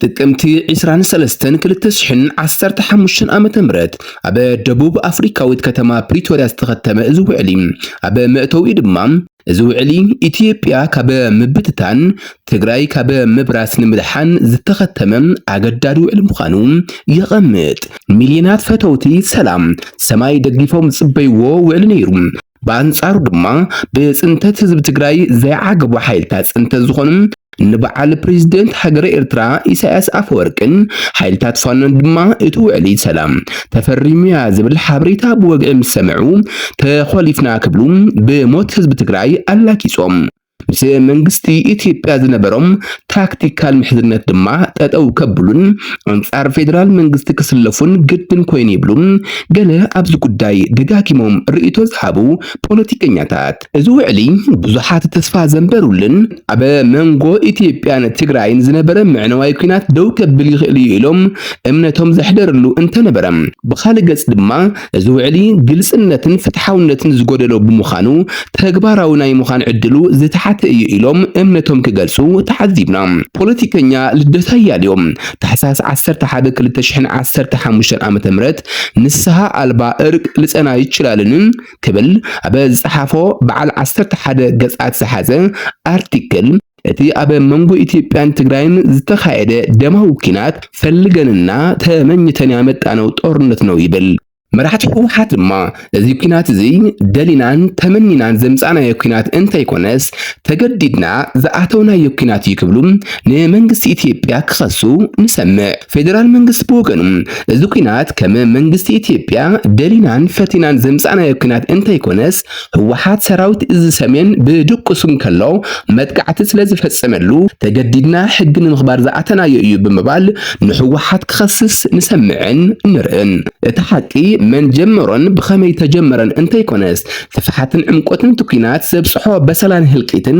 ጥቅምቲ 23 2015 ዓ.ም ኣብ ደቡብ ኣፍሪካዊት ከተማ ፕሪቶርያ ዝተኸተመ እዚ ውዕሊ ኣብ መእተዊ ድማ እዚ ውዕሊ ኢትዮጵያ ካብ ምብትታን፣ ትግራይ ካብ ምብራስ ንምድሓን ዝተኸተመ ኣገዳዲ ውዕሊ ምዃኑ የቐምጥ። ሚልዮናት ፈተውቲ ሰላም ሰማይ ደጊፎም ዝጽበይዎ ውዕሊ ነይሩ። ብኣንጻሩ ድማ ብጽንተት ህዝቢ ትግራይ ዘይዓገቡ ሓይልታት ጽንተት ዝኾኑ ንበዓል ፕሬዝደንት ሃገረ ኤርትራ ኢሳያስ ኣፈወርቅን ሓይልታት ፋኖን ድማ እቲ ውዕሊ ሰላም ተፈሪሙያ ዝብል ሓበሬታ ብወግዒ ምስ ሰምዑ ተኾሊፍና ክብሉ ብሞት ህዝቢ ትግራይ ኣላጊጾም ምስ መንግስቲ ኢትዮጵያ ዝነበሮም ታክቲካል ምሕዝነት ድማ ጠጠው ከብሉን ኣንጻር ፌዴራል መንግስቲ ክስለፉን ግድን ኮይኑ ይብሉ ገለ ኣብዚ ጉዳይ ደጋጊሞም ርእይቶ ዝሃቡ ፖለቲከኛታት። እዚ ውዕሊ ብዙሓት ተስፋ ዘንበሩልን ኣብ መንጎ ኢትዮጵያን ትግራይን ዝነበረ ምዕነዋይ ኩናት ደው ከብል ይኽእል እዩ ኢሎም እምነቶም ዘሕደርሉ እንተነበረ፣ ብኻልእ ገጽ ድማ እዚ ውዕሊ ግልጽነትን ፍትሓውነትን ዝጎደሎ ብምዃኑ ተግባራዊ ናይ ምዃን ዕድሉ ዝተሓተ እዩ ኢሎም እምነቶም ክገልጹ ተዓዚብና። ፖለቲከኛ ልደቱ ኣያሌው፣ ታሕሳስ ዓሰርተ ሓደ ክልተ ሽሕን ዓሰርተ ሓሙሽተን ዓመተ ምህረት፣ ንስሃ ኣልባ እርቅ ልጸና ይችላልን? ክብል ኣብ ዝጸሓፎ በዓል ዓሰርተ ሓደ ገጻት ዝሓዘ ኣርቲክል እቲ ኣብ መንጎ ኢትዮጵያን ትግራይን ዝተኻየደ ደማዊ ኲናት ፈልገንና ተመኝተን ያመጣነው ጦርነት ነው ይብል። መራሕቲ ህወሓት ድማ እዚ ኲናት እዚ ደሊናን ተመኒናን ዘምጻእናዮ ኲናት እንተይኮነስ ተገዲድና ዝኣተውናዮ ኲናት እዩ ክብሉ ንመንግስቲ ኢትዮጵያ ክኸሱ ንሰምዕ። ፌዴራል መንግስቲ ብወገኑ እዚ ኩናት ከም መንግስቲ ኢትዮጵያ ደሊናን ፈቲናን ዘምጻእናዮ ኩናት እንተይኮነስ ህወሓት ሰራዊት እዚ ሰሜን ብድቁሱ እንከሎ መጥቃዕቲ ስለዝፈጸመሉ ተገዲድና ሕጊ ንምኽባር ዝኣተናዮ እዩ ብምባል ንህወሓት ክኸስስ ንሰምዕን ንርእን። እቲ ሓቂ መን ጀመሮን ብኸመይ ተጀመረን እንተይኮነስ ስፍሓትን ዕምቆትን እቲ ኩናት ዘብጽሖ በሰላን ህልቂትን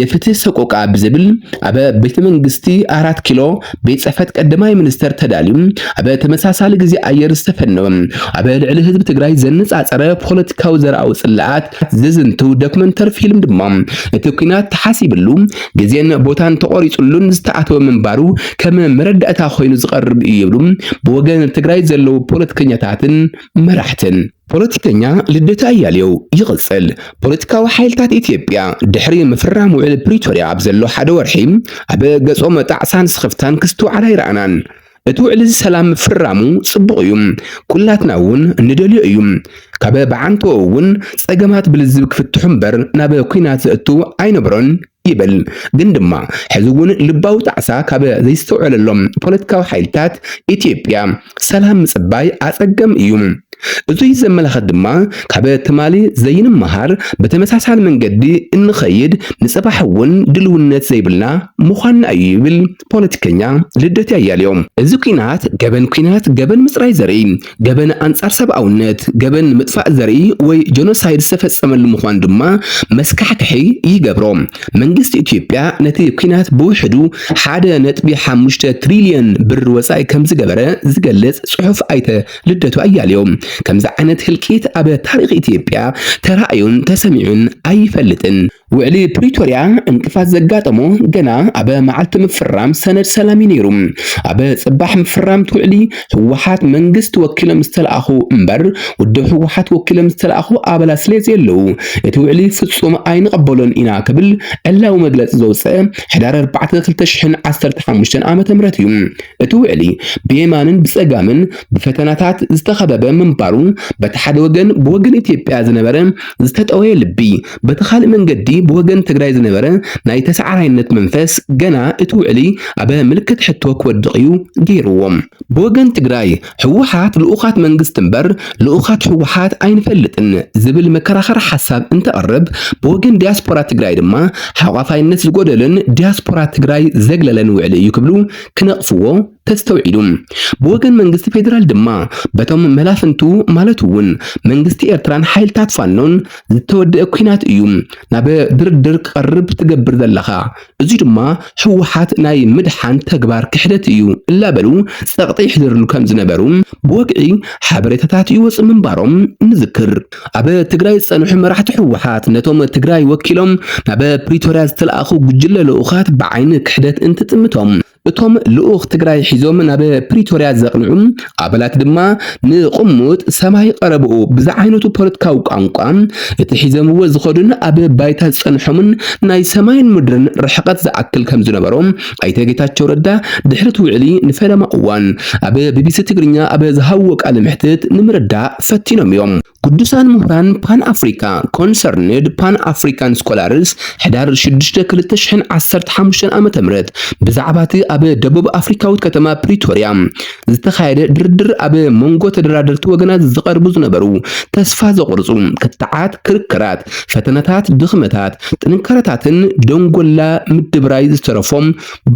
የፍትህ ሰቆቃ ብዝብል ኣብ ቤተ መንግስቲ ኣራት ኪሎ ቤት ጽሕፈት ቀዳማይ ሚኒስተር ተዳልዩ ኣብ ተመሳሳሊ ግዜ ኣየር ዝተፈነወ ኣብ ልዕሊ ህዝቢ ትግራይ ዘነጻጸረ ፖለቲካዊ ዘርኣዊ ጽላኣት ዝዝንትው ዶክመንተሪ ፊልም ድማ እቲ ኩናት ተሓሲብሉ ግዜን ቦታን ተቆሪጽሉን ዝተኣተወ ምንባሩ ከም መረዳእታ ኮይኑ ዝቐርብ እዩ ይብሉ ብወገን ትግራይ ዘለዉ ፖለቲከኛታትን መራሕትን። ፖለቲከኛ ልደቱ ኣያሌው ይቕጽል። ፖለቲካዊ ሓይልታት ኢትዮጵያ ድሕሪ ምፍራም ውዕሊ ፕሪቶርያ ኣብ ዘሎ ሓደ ወርሒ ኣብ ገጾም ኣጣዕሳን ስኽፍታን ክስትውዓል ኣይረኣናን። እቲ ውዕሊ'ዚ ሰላም ምፍራሙ ጽቡቕ እዩ፣ ኩላትና እውን ንደልዮ እዩ። ካብ ብዓንተኡ እውን ጸገማት ብልዝብ ክፍትሑ እምበር ናብ ኲናት ዘእቱ ኣይነበሮን ይብል ግን ድማ ሕዚ እውን ልባዊ ጣዕሳ ካብ ዘይስተውዐለሎም ፖለቲካዊ ሓይልታት ኢትዮጵያ ሰላም ምፅባይ ኣፀገም እዩ። እዙይ ዘመላኸት ድማ ካብ ትማሊ ዘይንመሃር ብተመሳሳሊ መንገዲ እንኸይድ ንፅባሕ እውን ድልውነት ዘይብልና ምዃንና እዩ ይብል ፖለቲከኛ ልደቴ ኣያሌው። እዚ ኲናት ገበን ኲናት ገበን ምፅራይ ዘርኢ ገበን ኣንጻር ሰብኣውነት፣ ገበን ምጥፋእ ዘርኢ ወይ ጀኖሳይድ ዝተፈጸመሉ ምዃኑ ድማ መስካሕክሒ ይገብሮ። መንግስቲ ኢትዮጵያ ነቲ ኲናት ብውሕዱ ሓደ ነጥቢ ሓሙሽተ ትሪልዮን ብር ወጻኢ ከምዝገበረ ዝገልጽ ጽሑፍ ኣይተ ልደቱ ኣያሌው፣ ከምዚ ዓይነት ህልቂት ኣብ ታሪኽ ኢትዮጵያ ተራእዩን ተሰሚዑን ኣይፈልጥን። ውዕሊ ፕሪቶርያ እንቅፋት ዘጋጠሞ ገና ኣብ መዓልቲ ምፍራም ሰነድ ሰላም እዩ ነይሩ። ኣብ ጽባሕ ምፍራም እቲ ውዕሊ ህወሓት መንግስቲ ወኪሎም ዝተለኣኹ እምበር ውድብ ህወሓት ወኪሎም ዝተለኣኹ ኣባላት ስለ ዘየለዉ እቲ ውዕሊ ፍጹም ኣይንቐበሎን ኢና ክብል ዕላዊ መግለጺ ዘውጽአ ሕዳር ኣርባዕተ ክልተ ሽሕን ዓሰርተ ሓሙሽተን ዓመተ ምህረት እዩ። እቲ ውዕሊ ብየማንን ብጸጋምን ብፈተናታት ዝተኸበበ ምንባሩ በቲ ሓደ ወገን ብወገን ኢትዮጵያ ዝነበረ ዝተጠወየ ልቢ በቲ ካልእ መንገዲ ብወገን ትግራይ ዝነበረ ናይ ተሰዓራይነት መንፈስ ገና እቲ ውዕሊ ኣብ ምልክት ሕቶ ክወድቕ እዩ ገይርዎ። ብወገን ትግራይ ህወሓት ልኡኻት መንግስቲ እምበር ልኡኻት ህወሓት ኣይንፈልጥን ዝብል መከራኸሪ ሓሳብ እንተቕርብ ብወገን ዲያስፖራ ትግራይ ድማ ሓቋፋይነት ዝጎደሎን ዲያስፖራ ትግራይ ዘግለለን ውዕሊ እዩ ክብሉ ክነቕፍዎ ተስተውዒሉ። ብወገን መንግስቲ ፌዴራል ድማ በቶም መላፍንቱ ማለት እውን መንግስቲ ኤርትራን ሓይልታት ፋኖን ዝተወደአ ኩናት እዩ ናብ ድርድር ክቐርብ ትገብር ዘለኻ፣ እዚ ድማ ህወሓት ናይ ምድሓን ተግባር ክሕደት እዩ እላበሉ ጸቕጢ ይሕድርሉ ከም ዝነበሩ ብወግዒ ሓበሬታታት ይወጽ ምንባሮም ንዝክር። ኣብ ትግራይ ዝጸንሑ መራሕቲ ህወሓት ነቶም ትግራይ ወኪሎም ናብ ፕሪቶርያ ዝተልኣኹ ጉጅለ ልኡኻት ብዓይኒ ክሕደት እንትጥምቶም እቶም ልኡኽ ትግራይ ሒዞም ናብ ፕሪቶርያ ዘቕንዑ ኣባላት ድማ ንቕሙጥ ሰማይ ቐረብኡ ብዝዓይነቱ ፖለቲካዊ ቋንቋ እቲ ሒዘምዎ ዝኸዱን ኣብ ባይታ ዝጸንሖምን ናይ ሰማይን ምድርን ርሕቐት ዝኣክል ከም ዝነበሮ ኣይተ ጌታቸው ረዳ ድሕሪ እቲ ውዕሊ ንፈለማ እዋን ኣብ ቢቢሲ ትግርኛ ኣብ ዝሃብዎ ቃለ መሕትት ንምርዳእ ፈቲኖም እዮም። ቅዱሳን ምሁራን ፓን ኣፍሪካ፣ ኮንሰርንድ ፓን ኣፍሪካን ስኮላርስ፣ ሕዳር ሽዱሽተ ክልተ ሽሕን ዓሰርተ ሓሙሽተን ዓመተ ምህረት ብዛዕባ እቲ ኣብ ደቡብ ኣፍሪካዊት ከተማ ፕሪቶርያ ዝተኻየደ ድርድር ኣብ መንጎ ተደራደርቲ ወገናት ዝቐርቡ ዝነበሩ ተስፋ ዘቑርፁ ክትዓት፣ ክርክራት፣ ፈተነታት፣ ድኽመታት፣ ጥንካረታትን ደንጎላ ምድብራይ ዝተረፎም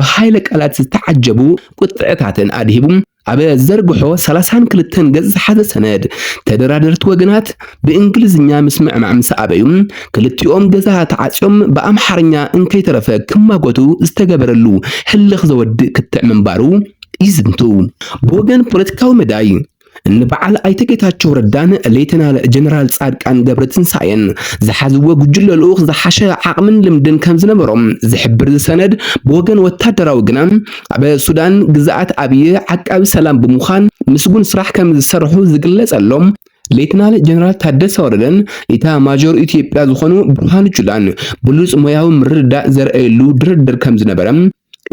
ብሃይለ ቃላት ዝተዓጀቡ ቁጥዐታትን ኣድሂቡ። ኣብ ዘርግሖ ሰላሳን ክልተን ገጽ ዝሓዘ ሰነድ፣ ተደራደርቲ ወገናት ብእንግሊዝኛ ምስምዕማዕ ምስ ኣበዩ፣ ክልቲኦም ገዛ ተዓጽዮም ብኣምሓርኛ እንከይተረፈ ክማጎቱ ዝተገበረሉ ህልኽ ዘወድእ ክትዕ ምንባሩ ይዝንቱ። ብወገን ፖለቲካዊ መዳይ፣ እንበዓል ኣይተ ጌታቸው ረዳን ሌተናል ጀነራል ጻድቃን ገብረትንሳኤን ዝሓዝዎ ጉጅለ ልኡኽ ዝሓሸ ዓቕምን ልምድን ከምዝነበሮም ዝሕብር እዚ ሰነድ፣ ብወገን ወታደራዊ ግና፣ ኣብ ሱዳን ግዝኣት ኣብይ ዓቃቢ ሰላም ብምዃን ምስጉን ስራሕ ከምዝሰርሑ ዝግለፀሎም ሌትናል ጀነራል ታደሰ ወረደን ኢታ ማጆር ኢትዮጵያ ዝኾኑ ብርሃኑ ጁላን ብሉፅ ሞያዊ ምርድዳእ ዘርአየሉ ድርድር ከምዝነበረ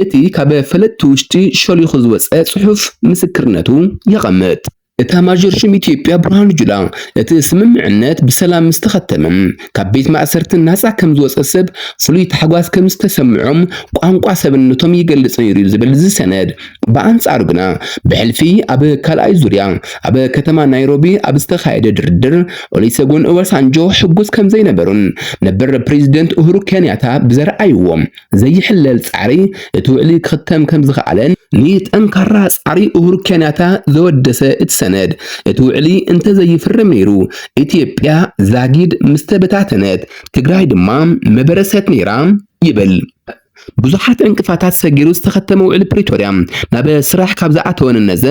እቲ ካብ ፈለጥቲ ውሽጢ ሸሊኹ ዝወፀ ፅሑፍ ምስክርነቱ የቐምጥ። ኤታማዦር ሹም ኢትዮጵያ ብርሃኑ ጁላ፣ እቲ ስምምዕነት ብሰላም ምስ ተኸተመ፣ ካብ ቤት ማእሰርቲ ናጻ ከም ዝወጸ ሰብ ፍሉይ ታሕጓስ ከም ዝተሰምዖም ቋንቋ ሰብነቶም ይገልጽ ነይሩ'ዩ ዝብል እዚ ሰነድ፣ ብኣንጻሩ ግና ብሕልፊ ኣብ ካልኣይ ዙርያ ኣብ ከተማ ናይሮቢ ኣብ ዝተኻየደ ድርድር ኦሊሰጎን ኦባሳንጆ ሕጉስ ከም ዘይነበሩን ነበር ፕረዚደንት ኡሁሩ ኬንያታ ብዘርኣይዎ ዘይሕለል ጻዕሪ እቲ ውዕሊ ክኽተም ከም ዝኸኣለን፣ ንጠንካራ ጻዕሪ ኡሁሩ ኬንያታ ዘወደሰ እቲ ሰነድ፣ እቲ ውዕሊ እንተዘይፍረም ነይሩ፣ ኢትዮጵያ ዛጊድ ምስተበታተነት፣ ትግራይ ድማ ምበረሰት ነይራ ይብል። ብዙሓት ዕንቅፋታት ሰጊሩ ዝተኸተመ ውዕሊ ፕሪቶርያ ናብ ስራሕ ካብ ዝኣተወ ንነዘ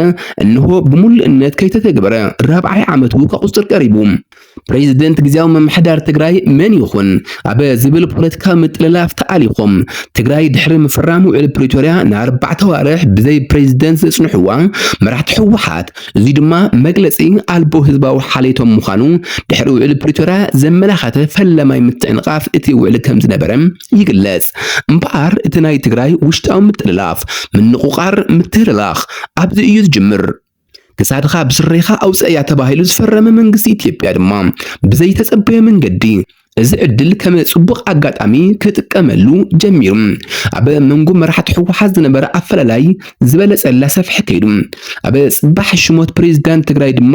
እንሆ ብምሉእነት ከይተተግበረ ራብዓይ ዓመቱ ከቑጽር ቀሪቡ። ፕሬዚደንት ግዜያዊ ምምሕዳር ትግራይ መን ይኹን ኣብ ዝብል ፖለቲካዊ ምጥልላፍ ተኣሊኾም ትግራይ ድሕሪ ምፍራም ውዕል ፕሪቶርያ ንኣርባዕተ ዋርሕ ብዘይ ፕሬዚደንት ዘጽንሕዋ መራሕቲ ህወሓት እዚ ድማ መግለጺ ኣልቦ ህዝባዊ ሓልየቶም ምዃኑ ድሕሪ ውዕል ፕሪቶርያ ዘመላኸተ ፈለማይ ምትዕንቓፍ እቲ ውዕል ከም ዝነበረ ይግለጽ። እምበኣር እቲ ናይ ትግራይ ውሽጣዊ ምጥልላፍ፣ ምንቑቓር፣ ምትህልላኽ ኣብዚ እዩ ዝጅምር። ክሳድኻ ብስሬኻ ኣውፀእያ ተባሂሉ ዝፈረመ መንግስቲ ኢትዮጵያ ድማ ብዘይተፀበዮ መንገዲ እዚ ዕድል ከም ጽቡቕ ኣጋጣሚ ክጥቀመሉ ጀሚሩ ኣብ መንጎ መራሕቲ ህወሓት ዝነበረ ኣፈላላይ ዝበለጸ እናሰፍሐ ከይዱ። ኣብ ጽባሕ ሽሞት ፕሬዚዳንት ትግራይ ድማ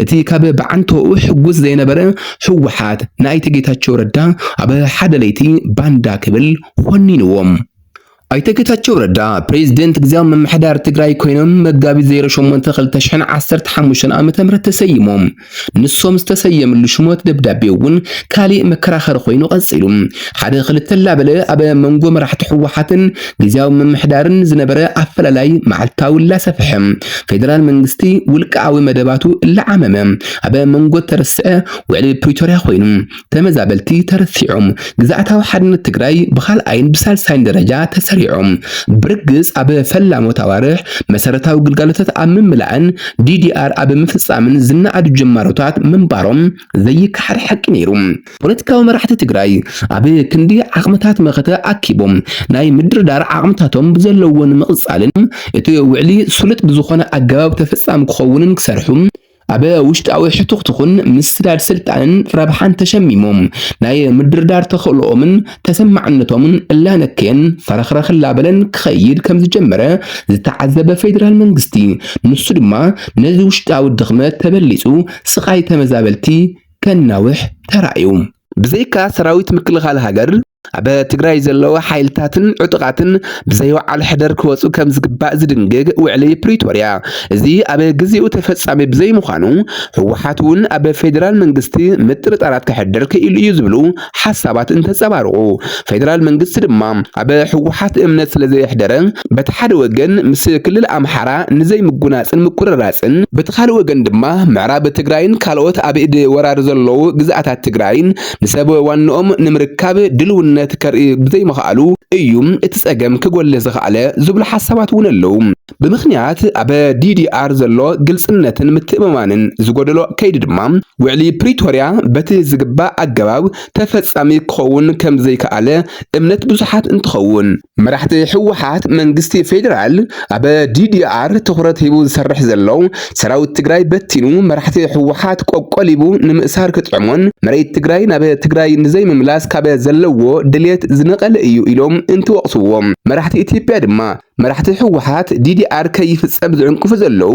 እቲ ካብ ብዓንተኡ ሕጉስ ዘይነበረ ህወሓት ንኣይተ ጌታቸው ረዳ ኣብ ሓደ ለይቲ ባንዳ ክብል ኾኒንዎም። ኣይተ ጌታቸው ረዳ ፕሬዝደንት ግዝያዊ ምምሕዳር ትግራይ ኮይኖም መጋቢት 08 2015 ዓ.ም ተሰይሞም። ንሶም ዝተሰየምሉ ሽሞት ደብዳቤ እውን ካሊእ መከራኸሪ ኮይኑ ቀፂሉ። ሓደ ክልተ ላበለ ኣብ መንጎ መራሕቲ ህወሓትን ግዝያዊ ምምሕዳርን ዝነበረ ኣፈላላይ መዓልታዊ ላሰፍሐ ፌደራል መንግስቲ ውልቀኣዊ መደባቱ እላዓመመ ኣብ መንጎ ተረስዐ ውዕሊ ፕሪቶርያ ኮይኑ ተመዛበልቲ ተረሲዖም ግዝኣታዊ ሓድነት ትግራይ ብካልኣይን ብሳልሳይን ደረጃ ተሰሪዖም ብርግፅ ኣብ ፈላሞት ኣዋርሕ መሰረታዊ ግልጋሎታት ኣብ ምምላእን ዲዲኣር ኣብ ምፍፃምን ዝነኣዱ ጀማሮታት ምንባሮም ዘይከሓድ ሓቂ ነይሩ። ፖለቲካዊ መራሕቲ ትግራይ ኣብ ክንዲ ዓቕምታት መኸተ ኣኪቦም ናይ ምድርዳር ዓቕምታቶም ብዘለዎ ንምቕፃልን እቲ ውዕሊ ስሉጥ ብዝኾነ ኣገባብ ተፈፃሚ ክኸውንን ክሰርሑ ኣብ ውሽጣዊ ሕቱኽትኹን ምስዳድ ስልጣንን ረብሓን ተሸሚሞም ናይ ምድርዳር ተኽእሎኦምን ተሰማዕነቶምን እላነከየን ፈረኽረኽ እላበለን ክኸይድ ከም ዝጀመረ ዝተዓዘበ ፌዴራል መንግስቲ ንሱ ድማ ነዚ ውሽጣዊ ድኽመት ተበሊፁ ስቓይ ተመዛበልቲ ከናውሕ ተራእዩ። ብዘይካ ሰራዊት ምክልኻል ሃገር፣ ኣብ ትግራይ ዘለዉ ሓይልታትን ዕጡቓትን ብዘይወዓል ሕደር ክወፁ ከም ዝግባእ ዝድንግግ ውዕሊ ፕሪቶርያ እዚ ኣብ ግዜኡ ተፈጻሚ ብዘይምዃኑ ህወሓት እውን ኣብ ፌዴራል መንግስቲ ምጥርጣራት ከሕድር ክኢሉ እዩ ዝብሉ ሓሳባት እንተፀባርቑ ፌዴራል መንግስቲ ድማ ኣብ ህወሓት እምነት ስለዘየሕደረ በቲ ሓደ ወገን ምስ ክልል ኣምሓራ ንዘይምጉናፅን ምቁርራፅን በቲ ካልእ ወገን ድማ ምዕራብ ትግራይን ካልኦት ኣብ ኢድ ወራር ዘለዉ ግዝኣታት ትግራይን ንሰብ ዋንኦም ንምርካብ ድልውነት ከርኢ ብዘይምኽኣሉ እዩ እቲ ጸገም ክጎልህ ዝኸኣለ ዝብሉ ሓሳባት እውን ኣለዉ። ብምኽንያት ኣብ ዲዲኣር ዘሎ ግልጽነትን ምትእምማንን ዝጎደሎ ከይዲ ድማ ውዕሊ ፕሪቶርያ በቲ ዝግባእ ኣገባብ ተፈጻሚ ክኸውን ከምዘይከኣለ እምነት ብዙሓት እንትኸውን፣ መራሕቲ ህወሓት መንግስቲ ፌዴራል ኣብ ዲዲኣር ትኹረት ሂቡ ዝሰርሕ ዘሎ ሰራዊት ትግራይ በቲኑ መራሕቲ ህወሓት ቆቆሊቡ ንምእሳር ክጥዕሞን መሬት ትግራይ ናብ ትግራይ ንዘይምምላስ ካብ ዘለዎ ድሌት ዝነቐለ እዩ ኢሎም እንትወቕስዎም መራሕቲ ኢትዮጵያ ድማ መራሕቲ ህወሓት ዲዲኣር ከይፍፀም ዝዕንቅፉ ዘለዉ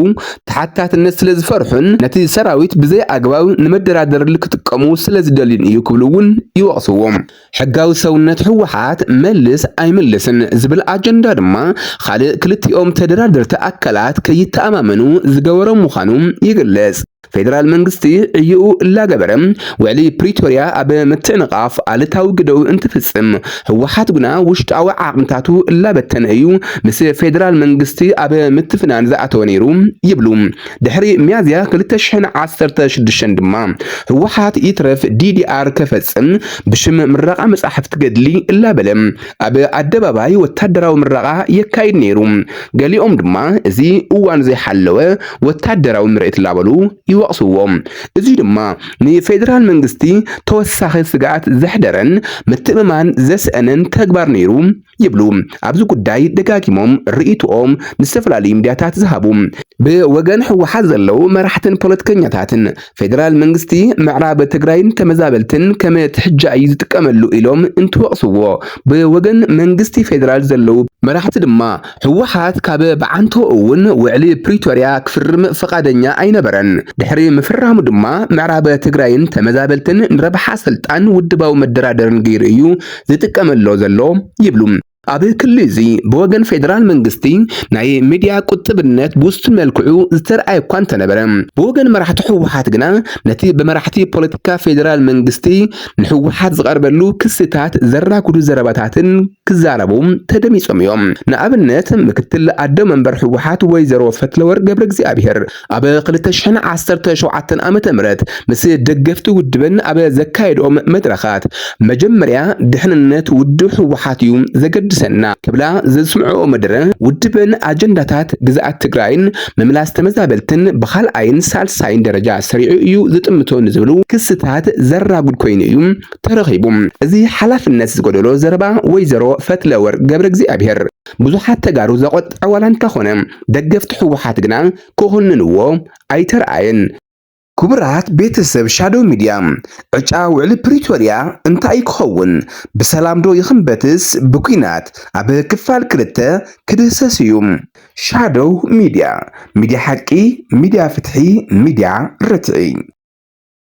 ተሓታትነት ስለ ዝፈርሑን ነቲ ሰራዊት ብዘይ ኣግባብ ንመደራደርል ክጥቀሙ ስለ ዝደልዩን እዩ ክብሉ እውን ይወቕስዎም። ሕጋዊ ሰውነት ህወሓት መልስ ኣይምልስን ዝብል ኣጀንዳ ድማ ካልእ ክልቲኦም ተደራደርቲ ኣካላት ከይተኣማመኑ ዝገበሮም ምዃኑ ይግለጽ። ፌደራል መንግስቲ ዕይኡ እላገበረ ውዕሊ ፕሪቶርያ ኣብ ምትዕንቓፍ ኣሉታዊ ግደኡ እንትፍጽም፣ ህወሓት ግና ውሽጣዊ ዓቕምታቱ እላበተነ እዩ ምስ ፌደራል መንግስቲ ኣብ ምትፍናን ዝኣተወ ነይሩ ይብሉ። ድሕሪ ሚያዝያ ክልተ ሽሕን ዓሰርተ ሽዱሽተን ድማ ህወሓት ይትረፍ ዲዲኣር ከፈጽም ብሽም ምረቓ መጻሕፍቲ ገድሊ እላበለ ኣብ ኣደባባይ ወታደራዊ ምረቓ የካይድ ነይሩ። ገሊኦም ድማ እዚ እዋኑ ዘይሓለወ ወታደራዊ ምርኢት እላበሉ ይወቕስዎ። እዚ ድማ ንፌደራል መንግስቲ ተወሳኺ ስግኣት ዘሕደረን ምትእምማን ዘስእነን ተግባር ነይሩ ይብሉ ኣብዚ ጉዳይ ደጋጊሞም ርእይትኦም ንዝተፈላለዩ ሚድያታት ዝሃቡ ብወገን ህወሓት ዘለዉ መራሕትን ፖለቲከኛታትን ፌደራል መንግስቲ ምዕራብ ትግራይ ንተመዛበልትን ከም ትሕጃ እዩ ዝጥቀመሉ ኢሎም እንትወቕስዎ ብወገን መንግስቲ ፌደራል ዘለዉ መራሕቲ ድማ ህወሓት ካብ ብዓንቶ እውን ውዕሊ ፕሪቶርያ ክፍርም ፈቓደኛ ኣይነበረን። ድሕሪ ምፍራሙ ድማ ምዕራብ ትግራይን ተመዛበልትን ንረብሓ ስልጣን ውድባዊ መደራደርን ገይሩ እዩ ዝጥቀመሎ ዘሎ ይብሉ። ኣብ ክሊ እዚ ብወገን ፌደራል መንግስቲ ናይ ሚድያ ቁጥብነት ብውሱን መልክዑ ዝተርኣየ እኳ እንተነበረ ብወገን መራሕቲ ህወሓት ግና ነቲ ብመራሕቲ ፖለቲካ ፌደራል መንግስቲ ንህወሓት ዝቐርበሉ ክስታት ዘራጉዱ ዘረባታትን ክዛረቡ ተደሚፆም እዮም። ንኣብነት ምክትል ኣደ መንበር ህወሓት ወይዘሮ ፈትለወርቅ ገብረ እግዚኣብሔር ኣብ ክልተ ሽሕን ዓሰርተ ሸውዓተን ዓመተ ምህረት ምስ ደገፍቲ ውድበን ኣብ ዘካየድኦም መድረኻት መጀመርያ ድሕንነት ውድብ ህወሓት እዩ ዘገድሰና ክብላ ዘስምዕኦ መደረ ውድበን ኣጀንዳታት ግዝኣት ትግራይን ምምላስ ተመዛበልትን ብካልኣይን ሳልሳይን ደረጃ ሰሪዑ እዩ ዝጥምቶ ንዝብሉ ክስታት ዘራጉድ ኮይኑ እዩ ተረኺቡ። እዚ ሓላፍነት ዝጎደሎ ዘረባ ወይዘሮ ፈትለወርቅ ገብረ እግዚኣብሔር ብዙሓት ተጋሩ ዘቖጠዐ ዋላ እንተኾነ ደገፍቲ ህወሓት ግና ክኹንንዎ ኣይተርኣየን። ክቡራት ቤተሰብ ሻዶው ሚድያ ዕጫ ውዕሊ ፕሪቶርያ እንታይ'ዩ ክኸውን? ብሰላም'ዶ ይኽንበትስ ብኲናት? ኣብ ክፋል ክልተ ክድህሰስ እዩ። ሻዶው ሚድያ፣ ሚድያ ሓቂ፣ ሚድያ ፍትሒ፣ ሚድያ ርትዒ።